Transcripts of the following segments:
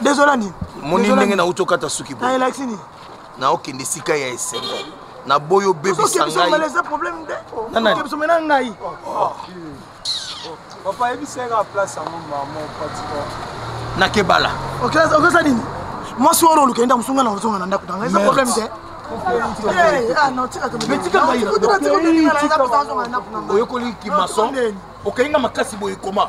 dezola nini moni ndenge nauti okata suki boye elakisi nini naokende esika ya esengo naboyi obebisa ngaina ngai papa yebisaka place yango mama patiko nakebala okesa nini mwasi wana olukeli nda mosunga na ozonga na ndako nanga eza problème te oyokoli kimason okei nga makasi boye koma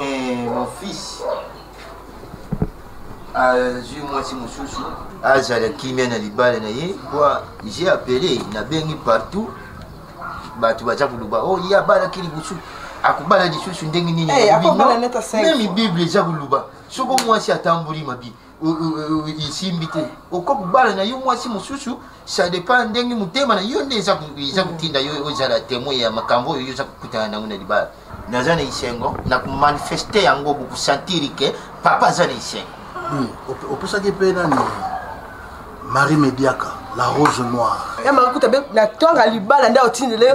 Eh, mon fils azwi ah, mwasi mosusu azala kimia na libala na ye po j'ai appelé nabengi partout bato baza koloba o oh, ye abalaki liboso akobala lisusu ndenge nini eh, meme bible eza koloba soko mwasi atamboli mabi esimbi te okoki kobala na yo mwasi mosusu ça dépend ndenge motema na yo nde eza kotinda yo ozala témoin ya makambo oyo yo oza kokutana nango na libala naza na esengo na komanifeste yango bokosantiri ke papa aza na esengo hmm, opesaki mpe nani marie mediaka la rose noire ya eh, makuta be na tonga libala nde otindele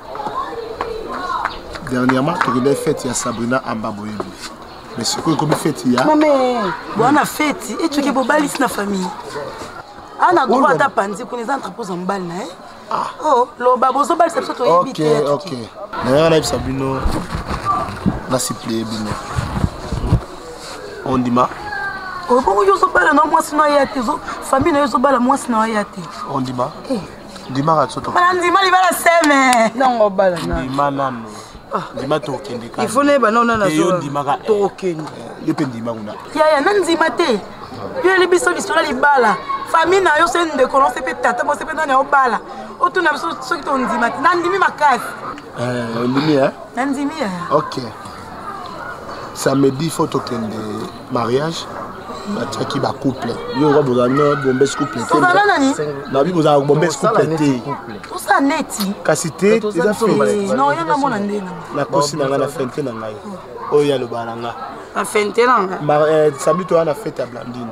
dernièrement tokendaki fete ya sabrina amba boyebi mais sikoyo ekomi fete ya mame bwana fete etuki bobalisi na famille ana droit ata panzi kuna eza entrepose ya mobali na ye ah. oh, loba bozobalisa biso toyebi te nayaka nayebisa bino nasiplie bino ondima obongo yo ozobala na mwasi na ya te famille na yo ezobala mwasi na ya te ondima eh. ndima katsoto bana ndima libala seme nango bala na ndima nanu ah. ndima tokende ka ifo nayeba nao nana yo ndimaka tokende yo mpe ndima kuna yaya na ndima te yo yeli biso lisolo ya libala famille na yo soki ndeko nose mpe tata bose mpe nani aobala otuna biso soki tondima te nandimi makasi eh, ondimi e eh? nandimi e eh. ok samedi fo tokende mariage batiaki ba couple yo oza boza no bombes couple te ozala nani na bi boza bombes couple te oza neti kasi te eza fe non yo na mona nde na na kosi na nga na fente na ngai oyo ya loba na nga na fente na nga eh, sabito wana fete ya blandine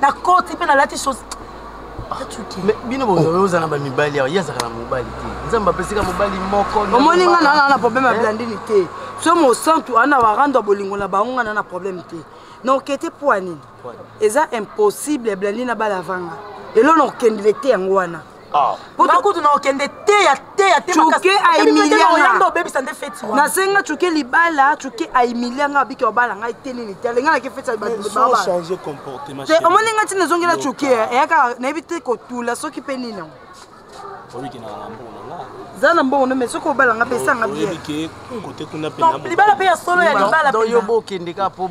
na koti mpe nalati sosi bino boza na bamibali awa ye azaka na mobali te nzambe apesika mobali moko omoni nga naa na problème ya blandini te so mosantu ana warando ya bolingo na bango nga naa na problème te na okete mpo ya nini eza impossible ya blandini abala vanga elo na okendele te yango wana Ah. kutu na okende teya teya teoyanda obebisa nde feti wana nasenga cuke libala cuke aimilia ngai abiki obala ngai te nini te alenga nake feti omoni ngai ntina ezongela cuke eyaka nayebi te kotula soki mpe nini yango za na mbongo no me soki obala nga pesa nga bielibala mpe ya solo ya libalabokendeka mpo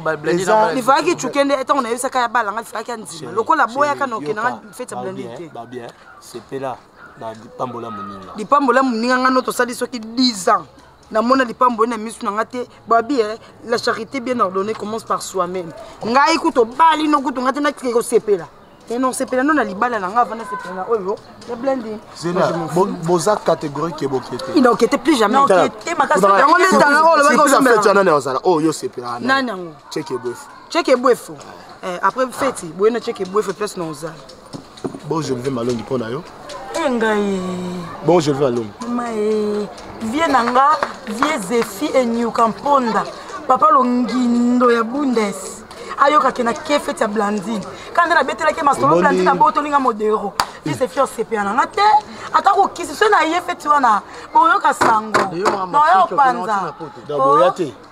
lifalaki cuke nde ntango nayebisaka ya bala nga lifalaki ya nzima lokola boyaka na okenda feti ya blonde te ba bien sepela na lipambo la moninga lipambo la moninga nga no tosali soki 10 ans namona lipambo na misu na nga te babi eh, la charité bien ordonnée commence par soi-même ngai kutu obali no kutu nga te nakike kosepela eh, non sepela no na libala na nga avanda sepela na oyo ya blending boza catégorie ke bokete il okete plus jamais yango nde tala oyo lobaki osombelanani ozala oyo osepela nani yango cheke boefu Cheke bwefo. Eh, après feti, boyena cheke bwefo place na ozala. Bon, je vais malongi pona yo. Engaye. Eh, bon, je vais malongi. Maye. Eh, vie nanga, vie Zefi et New Kamponda. Papa longindo ya Bundes. ayokaki na ke feti ya blandine kaka nde nabetelaki masolo blandine abotoli nga modero ise fi osepela na nga te ata kokisi so na ye feti wana boyoka sango noyo opanza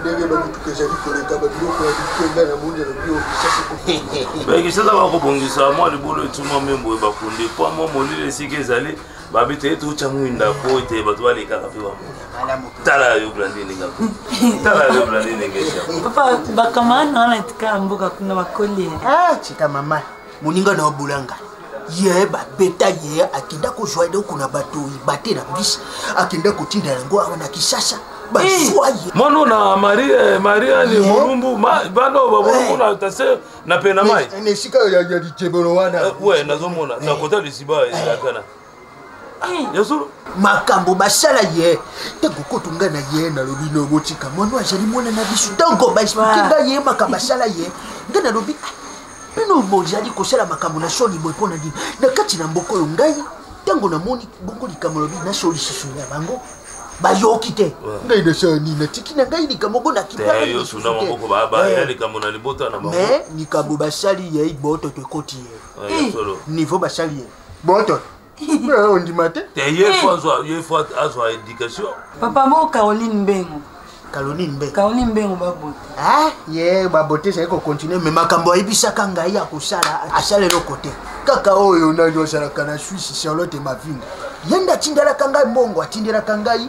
ndenge bamituka ezali koleka babiloko ya bikenga na moni alobi okisasakobakisasa bakobongisa mwa libolo etuma mpe boye bakundi mpo mwa molili esika ezali babi te ete otya mwinda mpo ete bato balekaka mpe bamona tala yo blandinenga tala yo blandinenga papa bakamana wana etikala mboka kuna bakoli eh, tika mama moninga na yo bolanga ye babeta ye akenda kozwa eloko na bato ibate na bisi akenda kotinda yango awa na kisasa bazwa ye eh. mono na marie mariane molumbu bana oyo babolumbu na tase na pena mai na esika ya lijebolo wana eh, nazomona na kota lisiba ezalakana Eh, makambo basala ye ntango kutu ngai na ye nalobi no botika mwana azali mwana na biso ntango baexplike ngai ye makambo asala ye ngai nalobi ah, bino bozali kosala makambo na soni boye mpo na nini na kati na mboka oyo ngai ntango namoni bongo likambo lobi naso lisusu ya bango bayoki te ngai nasala nini natiki na ngai likambo ngo nakimamais likambo basali ye bototo ekoti ye eh, niveau basali ye boto eh, ondima te te ye eh. fo azwa ye fo azwa éducation papa moko caroline mbengo caroline mbengo caroline mbengo babote ah ye babote ezali kocontinue me makambo ayebisaka ngai ya kosala asala eloko te kaka oyo nani ozalaka na swisse charlotte mavinga ye nde atindelaka ngai mbongo atindelaka ngai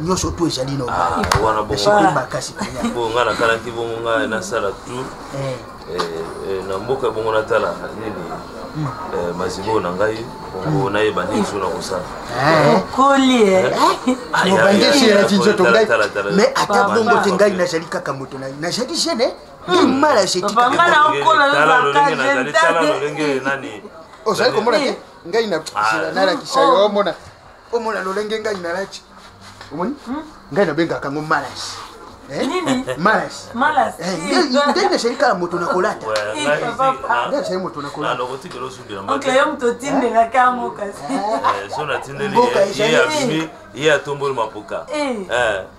nyonso tu ezali na ah, wana bongo makasi bongo ngai nakanaki bongo ngai nasala tour eh. Eh, eh, na mboka bongo natala nini hmm. mazibo na ngai bongo hmm. nayeba nini so nakosala obandesielaki nzoto ngai mais ata bongo te ngai nazali kaka moto na nazali jeune mala jetitaalolenge nani ozali komona te ngai nalakisa yo omona omona lolenge ngai nalati omoni hmm? ngai nabengaka yango malas eh? nde nasali kala moto na kolata nde nasali moto na kolataye atomboli mapuka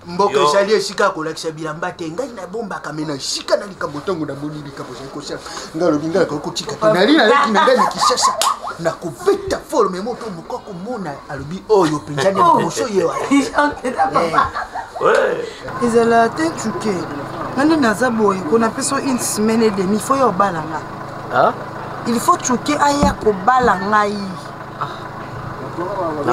mboka ezali esika ya kolakisa bilamba te ngai nabombaka me na esika na likambo ntango namoni likambo ezali kosala ngai alobi ngai akoki kotika te nali naleki na ngai na kisasa na kobeta folo me moto moka komona alobi oyo oh, mpenza nde liboso oh. ye eh. ezala te cuke nani naza boye ko napesa une semaine et demi fo yo obala nga il faut cuke aya kobala ngai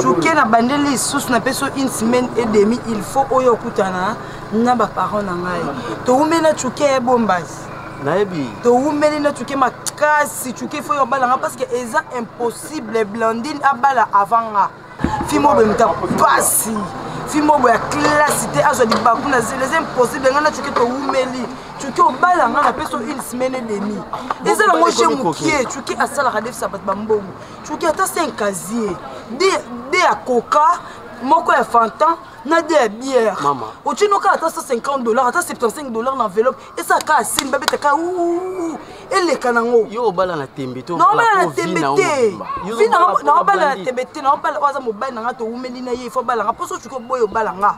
joke na bandeli lisusu na peso une semaine et demi il faut oyo okutana na baparent na ngai towumeli na joke ya bombasi nayebi towumeli na joke makasi joke ifo yo obala nga parce que eza impossible blandine abala avant nga fimo oyo emita mpasi fimo oyo ya klasi te azwa libaku na zela eza impossible nga na joke towumeli cuki obala nga na peso une semaine et demi eza nango je mokie cuki asalaka defisa bato bambongo cuki ata se un casier de ya coca moko ya fantan na de ya bière otino kaka ata 150 dollar ata 75 dollar na enveloppe esala kaka sini babeta kaka eleka nango naobala na tembe te naobala na tembe te naobala oyo aza mobali na nga towumeli na ye ifo obala nga mposo ocuki oboyi obala nga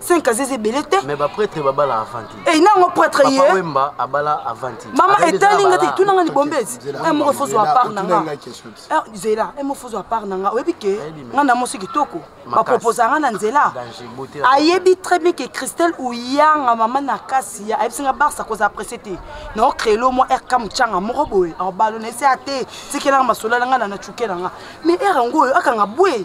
5 ans eza ebele te mais ba prêtre babala avant te eh nango prêtre ye papa wemba abala avant te mama etali nga te tuna nga libombezi eh moko fozo à part na nga eh zela eh moko fozo à part na nga oyebi ke nga na mosi kitoko ba propose nga na nzela ayebi très bien que Christelle uyanga mama na kasi ya ayebisi nga barça koza apprécier te na créer le moi RK muchanga moko boye en ballon ese ate tikela nga masolo nga na na chukela nga mais era ngoyo akanga boye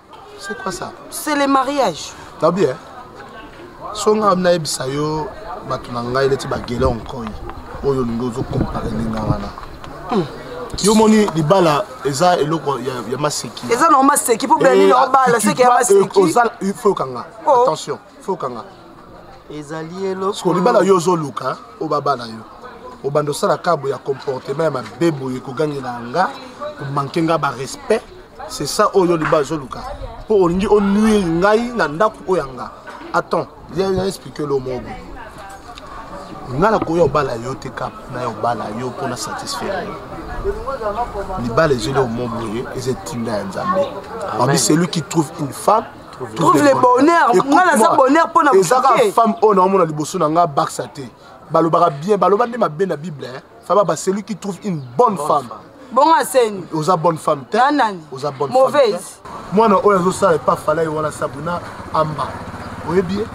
C'est quoi ça C'est le mariage. T'as bien Songa amna ebisa yo bato na ngai neti bagele onkoi oyo olingi ozokompare ndenge wana hmm. yo moni libala eza eloko ya maseki eza na maseki mpo bela nini obala seki ya maseki oza fo okanga attention fokanga ezali eloko libala yo ozoluka obabala yo obanda osala kabo ya comportement ya mabe boye kogangela nga komanke nga barespect c'est ça oyo libala ozoluka mpo olingi onuire ngai na ndako oyo ya nga attends ya explike lo moko boye nga nakoya obala yo te kap naya obala yo mpo na satisfaire yo libala ezeli omo boye eza etinda ya nzambe abi celui qui trouve une femme trouve le bonheur nga naza bonheur mpo na ezaka femme oyo naomona liboso na nga baksa te balobaka bien baloba nde mabe na bible faba ba celui qui trouve une bonne femme bongo aseni oza bonne femme te oza bonne mauvaise mwana oyo azosala epa falai wana sabuna amba oyebi ye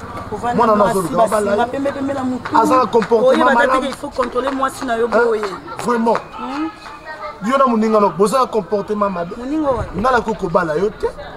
mwana wana azolukaaza na comportementvraiment yo na moninga no boza na comportement mabe nga nakoki kobala yo te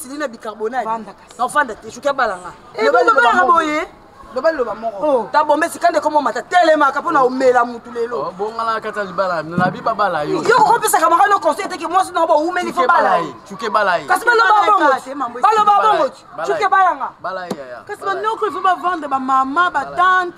sili na bicarbonate nafanda te suki abalanga ebabalanga boye loba liloba moko ta bombe esika nde komo mata telemaka mpo na omela motu lelo oh, bongala kata libala nabi babala yo yo okopesaka maka no conseil teke mwasi nao boumeli fo bala ye cuke bala ye kasi baloba bongo baloba bongo cuke balanga kasi banoko ifo bavandre bamama batante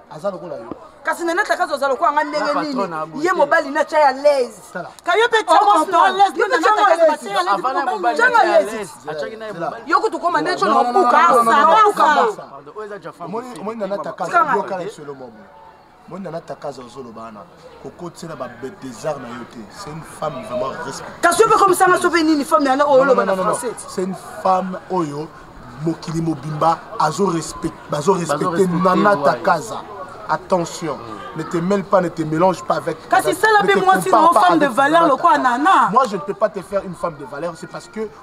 aza lokola yo kasi nana takazo aza lokola nga ndenge nini ye mobali na tya ya laise ka yo mpe yo kutu koma nde tyo na mobukaomoni nana takazo ozoloba wana kokotisela babetesar na yo te c'est une femme vraiment respecte kasi yo mpe komisanga so mpe nini femme yana oyo oloba na français c'est une femme oyo mokili mobimba bazo respecte nana takaza attention mm. ne te mêle pas, ne te mélange pas avec. Kasi sala pe moi si non femme de valeur le quoi nana. Moi je ne peux pas te faire une femme de valeur, c'est parce que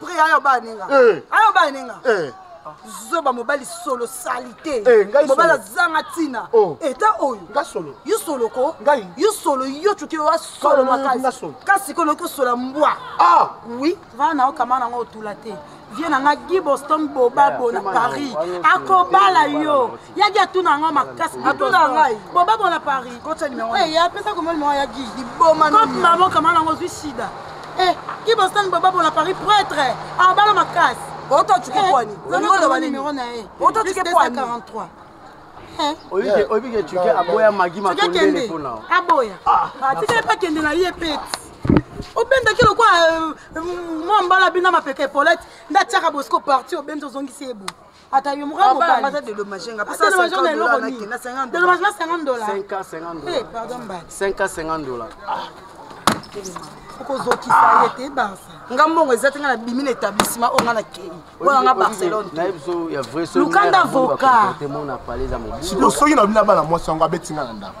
Pri ayo ba ninga. Eh. Ayo ba ninga. Eh. zoba mobali solo salite eh, mobali azanga ntina oh. eta oyo yo solo ko yo solo yo cuki oyo asolo makasi kasi ko noki osola mbwa ah. oui vaa na yo kama nango otula te vie na nga gi boston bobabo na paris akobala yo yagi atuna yango makasi atuna ngai bobabo na paris eya eh, apesa komoni moko yagi liboma kopi mabokama nango ozwi sida Eh, ki bostan baba bona Paris prêtre. Ah, bala makas. Oto oh, tuke eh, kwani. Olingo oh, loba nini? Oto oh, tuke kwani. 43. Eh. oyebi ke tuke aboya magi matondele mpo na aboya ah, ah, atikali mpe akende na ye pete obendaki lokwa euh, mwa mbala bina mapeka epolete nde atiaka bosiko parti obenzi ozongisi ebo ata yo mokaka mobali ata dedommage nga pesa 50 dollars na kenda 50 dollars na 50 dollars 5 cas 50 dollars eh pardon ba 5 cas 50 dollars ah okozokisa ye te barsa nga mbongo eza te nga nabimi na établissement oyo nga nakei oyo nga barcelone lukanda voka soki nabimi na bana mwasi yango abeti nga na ndako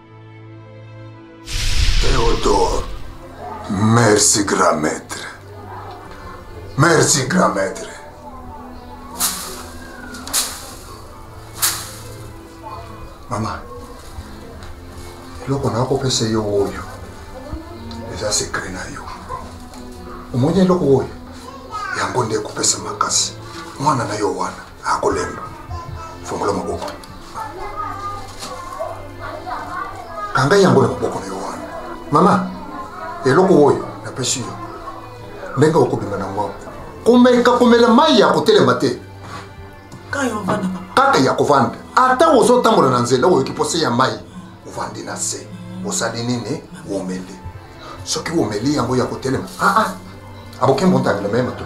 Theodore, merci grand maître. Merci grand maître. Mama, eloko nakopesa yo oyo eza sekre na yo. Omoni eloko oyo yango nde ekopesa makasi mwana na yo wana. akolemba fongola maboko kanga yango na maboko na yo wana mama eloko oyo napesi yo ndenge okobima na ngwa komeka komela mai ya kotelema te kaka ya kovanda ata ozotambola na nzela oyoki mposa ya mai ovandi na se osali nini omeli soki omeli yango ya kotelema aa ah, ah. aboki mbontangelema ye mato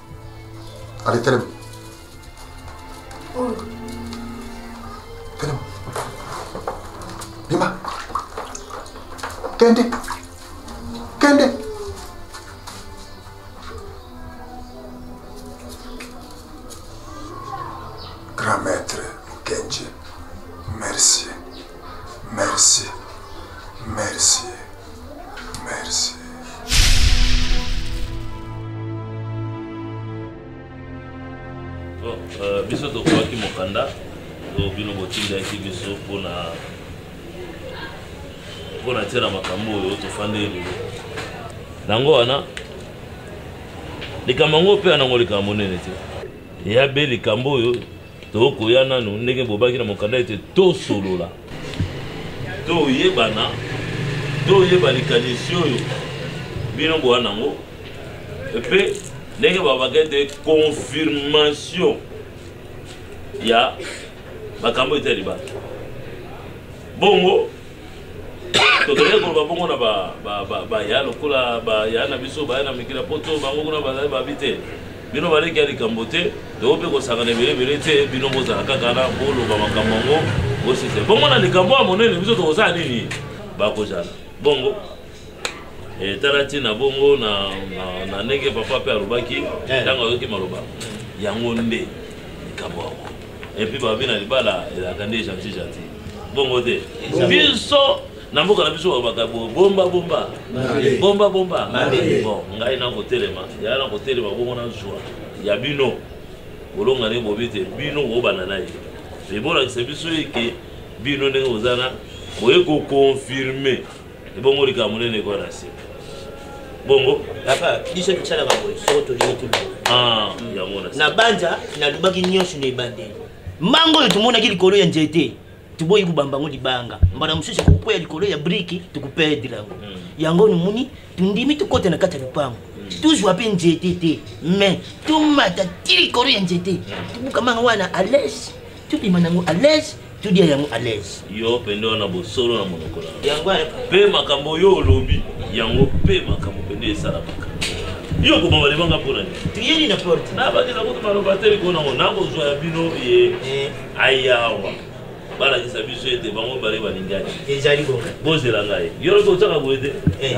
Allez, telema. Oh. Telema. Bima. Kende. Kende. Grand maître Mukenji, merci. Merci. Merci. Merci. Euh, biso tokoki mokanda oyo bino botindaki biso mpona mpona tia na makambo oyo tofandi elelo yango wana likambo yango mpe yanango likambo monene te ya be likambo oyo Tokoya nanu ndenge bobaki na mokanda ete tosolola, toyebana, toyeba likanisi oyo bino boa nango mpe ndenge babaka ete confirmation ya makambo etali bato bongo tozali koloba bongo na baya lokola baya na biso baya na mikili ya poto bango kuna bazali babi te bino baleki ya likambo te toko mpe kosangana ebele ebele te bino bozala kaka na boloba makambo yango bosise bongo na likambo ya monene biso tokozala nini bakozala bongo etala eh, ntina bongo na ndenge papa mpe alobaki eh. ntango ayoki maloba yango nde likambo yango et puis babi na libala elaka nde gentil gentil bongo te biso na mboka na biso babaka bomba bomba bomba bomba bon ngai nakotelema yaya nakotelema bongo nazwa ya bino bolongani bobi te bino koyobana na ye ebolakisa biso eke bino ndenge boza na boye kokonfirme ebongo likambo monene ekoya na se bongo papa biso tosalaka boye soko tolingi tolaa na banja nalobaki nyonso na ebandeli mango oyo tomonaki likolo ya nzete toboyi kobamba yango libanga mbala mosusu ekokwea likolo ya briki tokoperdre yango hmm. yango nomoni tondimi tokota na kati ya lopango hmm. tozwa mpe nzete te mais tomata ti likolo ya nzete hmm. tobukama yango wana alese tobima nango à l'aise todia yango à l'aise yo pende wana bosolo na monoko na yango mpe makambo yo olobi yango mpe makambo pende esalamaka yo kobamba libanga mpo na nini na porte nabakisa kutu maloba te likolo nango nakozwa ya bino ye eh. ayawa balakisa biso ete bango bale balingani ezali bongo bozela ngai yo lokoki ozaka boye te eh.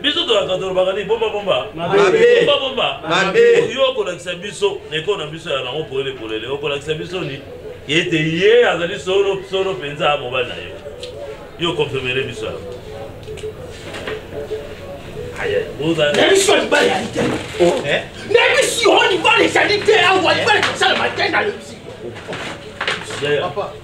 biso tolaka tolobaka nini bombabomba bombabomba yo okolakisa biso na ekolo na biso ya nango polele polele okolakisa biso ni ete ye azali solo solo mpenza mobali na yo yo okonfirmere biso yango nayebisi yo libala ezali te nayebisi yo libala ezali te awa libala ezosalama te nalobisi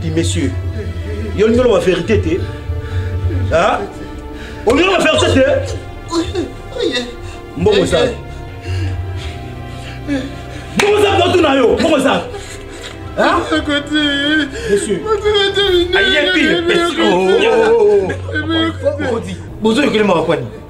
Ti monsieur. Yo ndolo ba vérité te. Hein? On ndolo ba vérité te. Mbongo za. Mbongo za moto na yo. Mbongo za. Hein? Monsieur. Ayebi. Monsieur. Bozo yokelema kwa nini?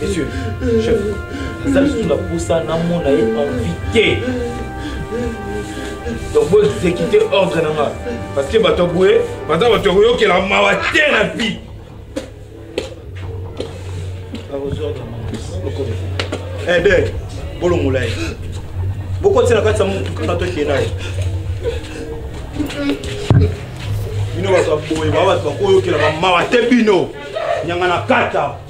Monsieur, chef, naza lisusu na posa namona ye envie te donc bo exécute ordre na nga parce que bato boye baza bato ya koyokela mawa te na vie ede eh, bolongola ye bokotisa na kati ya motuka na tokee na ye bino bato ya boye ba bato bakoyokelaka mawa te bino nyanga na kata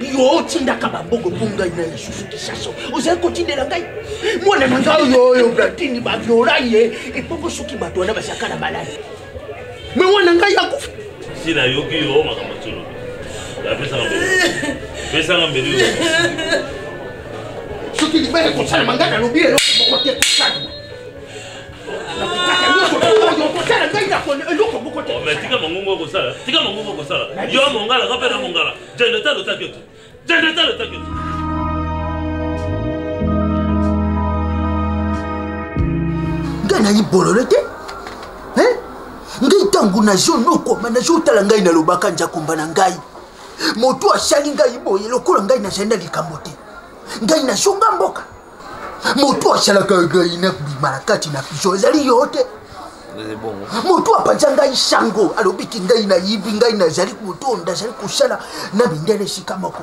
yo otindaka bambongo mpo ngai na lisusu kisaso ozali kotindela ngai mwana na ngai oyo oyo bratini baviola ye epoko soki bato wana bazalaka na maladi me mwana ngai akufi si nayoki yo makambo tolobi apesaka mbeli pesaka mbeli soki libaya kosalama ngai nalobi eloko moko te kosalama tika mangungu okosala tika mangungu okosala yo mongala nga mpe na mongala jendeta lotaki ote jendeta lotaki ote ngai nayi bolole te ngai ntango nazo nokoma nazo otala ngai nalobaka njakumba na ngai moto asali ngai boye lokola ngai nazali na likambo te ngai nazonga mboka motu asalaka ngai nakobima na kati na piso ezali yo te motu apanza ngai sango alobiki ngai nayibi ngai nazali kotonda azali kosala na mindele esika moko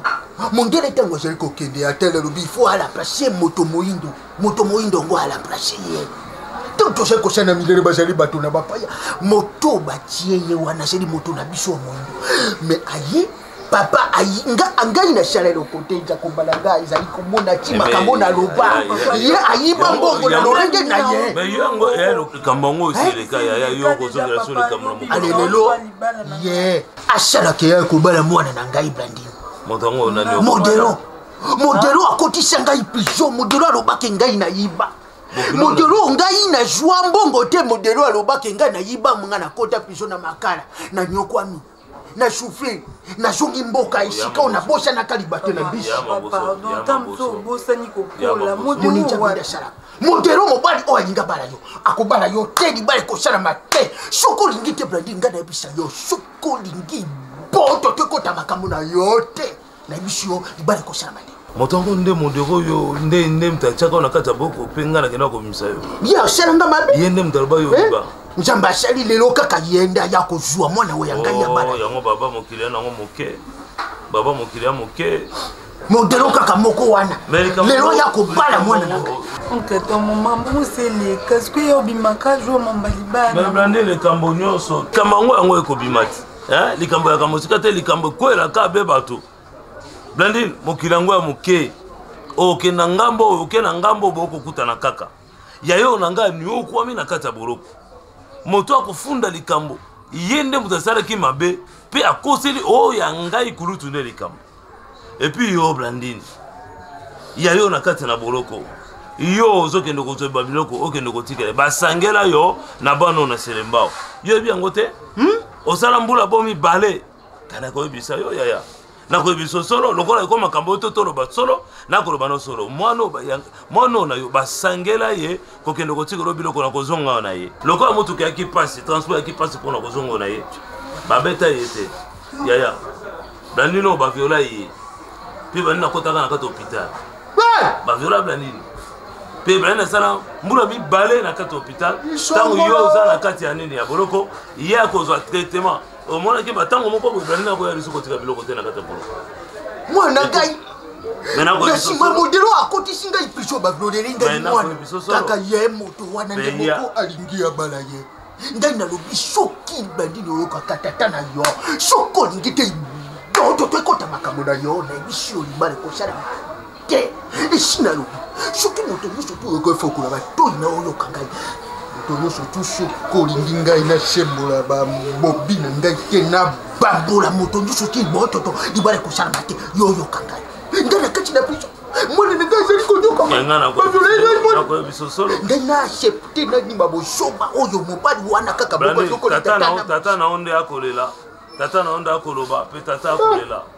mondele ntango azali kokende atele alobi ifo alaplace moto moindo moto moindo yango alaplace ye ntango tozali kosala na mindele bazali bato na bapaya moto batie ye wana azali moto na biso ya moindo me aye papa ayinga angai na shala lokote nja kombala nga ezali komona ti eh, makambo na loba eh, ye ayimba mbongo na lolenge na ye eh, likambo yango osileka yaya yo kozongela so likambo na mokale lelo ye asalaka ya kobala mwana na ngai blandin moto yango nani modelo modelo akotisa ngai prison modelo alobaki ngai nayiba modelo ngai nazwa mbongo te modelo alobaki ngai nayiba nga nakota prison na makala nanyokwami na souffle nazongi mboka esika oyo nabosanaka libate na bisimoninjamidasala modero mobali oyo alinga bala yo akobala yo te libala ekosalama te soki olingi te brandi ngai nayebisa yo soki olingi boto te kota makambo na yo te na biso yo libala ekosalama nde moto yango nde modero oyo nde nde moto atiaka yo na kati ya boko mpe ngai nakenda kobimisa yo ye asala nga mabe ye nde moto aloba yo eh? oba nzambe asali lelo kaka ye nde aya kozwa mwana oyo ya ngai ya oh, bana yango baba mokili yana yango moke baba mokili ya moke modelo kaka moko wana lelo ya kobala mwana na ngai nkata momambo moseleka soki yo obimaka jour mamba libala nde likambo nyonso likambo yango yango ekobima te eh, likambo yaka mosika te likambo ekwelaka be bato blandi mokili yango ya moke oke na ngambo oyo oke na ngambo oyo bokokutana kaka yayo na ngai niokwami na kati ya boloko moto akofunda likambo ye nde moto asalaki mabe mpe akoseli oyo oh, ya ngai kulutu nde likambo epuis yo blandine ya yo na kati na boloko yo ozokende kozwa babiloko okende kotikela basangela yo na bana na selembao yo yebi yango te hmm? osala mbula bo mibale kana koyebisa yo yaya nakoyebisa solo lokola eko makambo oyo to toloba solo nakoloba na solo mwana oyo na yo basangela ye kokende kotika olo biloko na kozonga awa na ye lokola motuka yaki mpasi transport yaki mpasi mpona kozonga na ye babeta ye te yaya blandino baviola ye mpe bandi nakotaka na kati hôpital baviola blandino mpe blandino asala mbula mibale na kati hôpital ntango yo oza na kati ya nini ya boloko ye akozwa traitement omonaki matango moko boye brandi nakoya biso kotika biloko te na kati ya bolo mwana ngai na nsima modelo akotisi ngai piso bablodeli ngai mwana kaka ye moto wana nde moko alingi ya bala ye ngai nalobi soki bandini oyokaka tata na yo soki olingi te dodo to ekota makambo na yo nayebi si olibala ekosala te esi nalobi soki moto nyonso mpo oyoka efa okola batoi na oyoka ngai moto nyonso tu soki olingi ngai nasembola babobi na ngai te na bambola moto nyonso ti bototo libala ekosalama te yo oyoka ngai ngai na kati na biso mwana na ngai ezali konyokangai na accepte nandima bosoba oyo mobali wana kaka bokoyokola tata na yo nde akolela tata na yo nde akoloba mpe tata akolela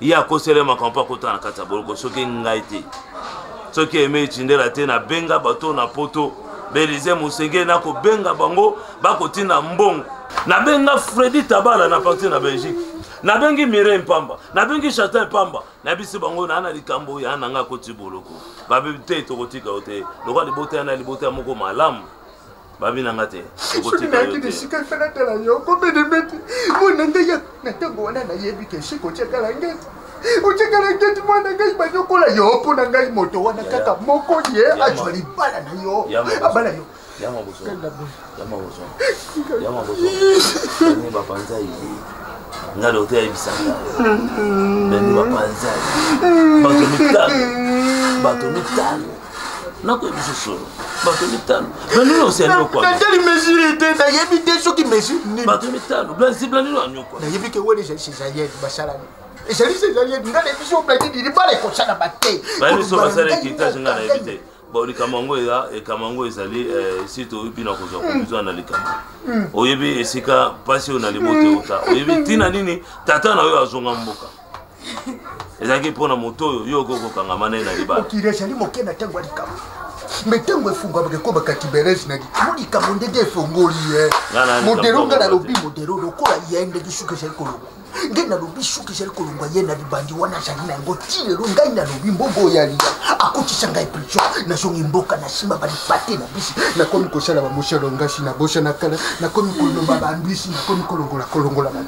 ye akosela makambo mpo akota na kati ya boloko soki ngai te soki eme etindela te nabenga bato na poto belize mosengeli nakobenga bango bakotinda mbongo nabenga fredi tabala na parti na belgique nabengi mirei mpamba nabengi chatin mpamba nayebisi bango naa na likambo ya na ngai akoti boloko babebi te tokotika yo te lokola libota ya na libota ya moko malamu babi na nga te soki nayaki na esika efe natala yo kobenemeti mwana ngai ya na ntango wana nayebi ke esika otyakala ngeti otyakala ngeti mwana ngai banyokola yo mpo na ngai moto wana kaka moko ye azwa libala na yo abala yo yama bozwa yama bozwa yama bozwa bani bapanza ye nga dokter ayebisaka bani bapanza ye bato mitano bato mitano nakoyebisa solo bato mitano blandino osi anyokwatali mesure te nayebi te soki mesure nini bato mitano blandino anyokwa nayebi ke wele ezali cesarienne basalani ezali cesarienne nga nayebi so blandini libala ekosala bate baniso basala ekitage nga nayebi te bon likambo yango eza likambo yango ezali eh, si toyebi bino akozwa hmm. kozwa na likambo hmm. oyebi esika mpasi oyo na libote ota oyebi ntina nini tata na oyo azonga mboka ezalaki mpo na moto oyo yo okoki kokangama na ye na libala mokili ezali moke na ntango ya likambo me ntango efungwamaka ekoma katiberese na likimo likambo ndenge efongoli ye modelo nga nalobi modelo lokola ye ndenge suka ezali koloba nde nalobi suka ezali kolongwa ye na libandi wana azali na yango ti lelo ngai nalobi mbongo oyo aliya akotisa ngai priso nazongi mboka na nsima balipate na bisi nakomi kosala bamosalo ngasi na bosa na kala nakomi koloba bambisi nakomi kolongola kolongola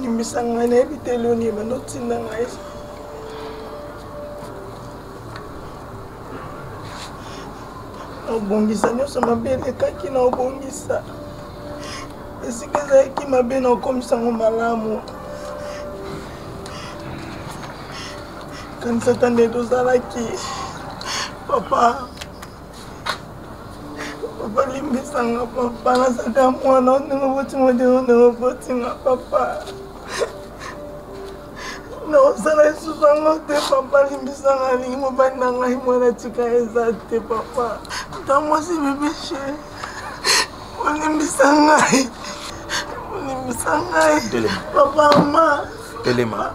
limbisa ngai nayebi te eloni ebanda otinda ngai obongisa nyonso mabe elekaki na obongisa esika ezalaki mabe na okomisa yango malamu kanisata nde tozalaki papa papa limbisanga papa nazaka mwana ndenge botinga ndenge ndenge botinga papa naosala lisusu yango te papa limbisanga alingi mobali na ngai mwana tika eza te papa ta mwasi bebeshe olimbisa ngai olimbisa ngai papa ma telema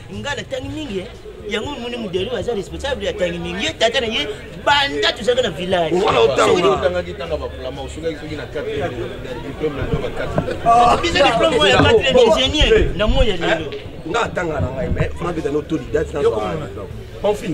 nga natangi mingi eh. yango moni modeli oyo aza responsable ya tangi mingi ye tata na ye banda tozalaka na village biso diplome oyo ya 4 ingénieur na moi ya lelo nga atanga na ngai mais fana beta no toli date na enfin